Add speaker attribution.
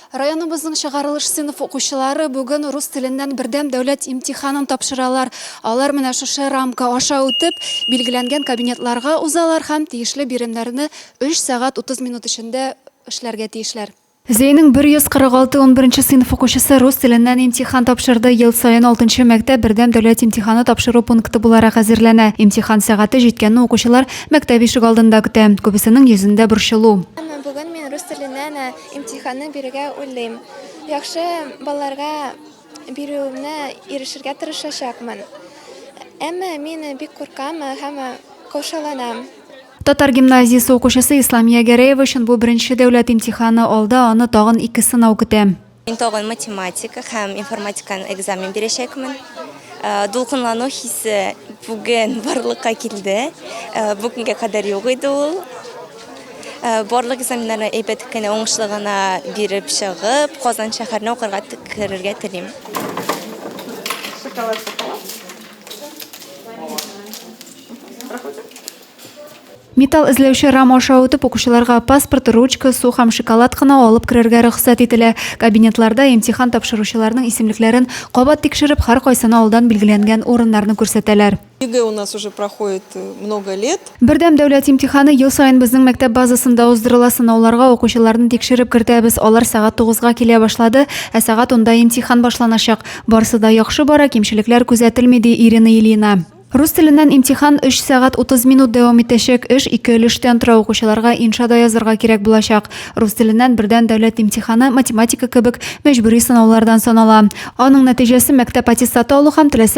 Speaker 1: Районыбызның чыгарылыш сыйныф укучылары бүген рус теленнән бердәм дәүләт имтиханын тапшыралар. Алар менә шушы рамка аша үтеп, билгеләнгән кабинетларга узалар һәм тиешле биремнәрне 3 сәгать 30 минут эчендә эшләргә тиешләр. Зәйнең 146 унберенче сыйныф укучысы рус теленнән имтихан тапшырды. Ел саен алтынчы мәктәп бердәм дәүләт имтиханы тапшыру пункты буларак әзерләнә. Имтихан сәгате җиткәнне укучылар мәктәп ишегалдында көтә. Күбесенең йөзендә борчылу. Әмма бүген мин рус
Speaker 2: теленнән Имтиханны бирергә уйлыйм. Яхшы балларга бирүемне ирешергә тырышачакмын. Әмма мин бик куркам һәм каушаланам. Татар
Speaker 1: гимназиясе укучысы Исламия Гәрәева өчен бу беренче дәүләт имтиханы, алда аны тагын ике сынау көтә. Мин тагын
Speaker 3: математика һәм информатиканы экзамен бирәчәкмен. Дулкынлану хисе бүген барлыкка килде. Бүгенгә кадәр юк иде ул. Э, барлык экзаменнарны әйбәт кенә уңышлы гына биреп чыгып, Казан шәһәренә укырга керергә телим. Шоколад, шоколад.
Speaker 1: Металл эзләүче рам аша үтеп укучыларга паспорт, ручка, су һәм шоколад кына алып керергә рөхсәт ителә. Кабинетларда имтихан тапшыручыларның исемлекләрен кабат тикшереп, һәркайсына алдан билгеләнгән урыннарны күрсәтәләр. ЕГЭ у нас уже
Speaker 4: проходит э, много лет. Бердәм дәүләт имтиханы
Speaker 1: ел саен безнең мәктәп базасында уздырыла. Сынауларга укучыларны тикшереп кертәбез. Алар сәгать 9-га килә башлады, ә сәгать 10-да имтихан башланачак. Барсы да яхшы бара, кимчелекләр күзәтелми, ди Ирина Ильина. Рус теленнән имтихан 3 сәгать 30 минут дәвам итәчәк. Эш ике өлештән тора. Укучыларга иншада язырга кирәк булачак. Рус теленнән бердән дәүләт имтиханы математика кебек мәҗбүри сынаулардан санала. Аның нәтиҗәсе мәктәп аттестаты алу һәм теләсә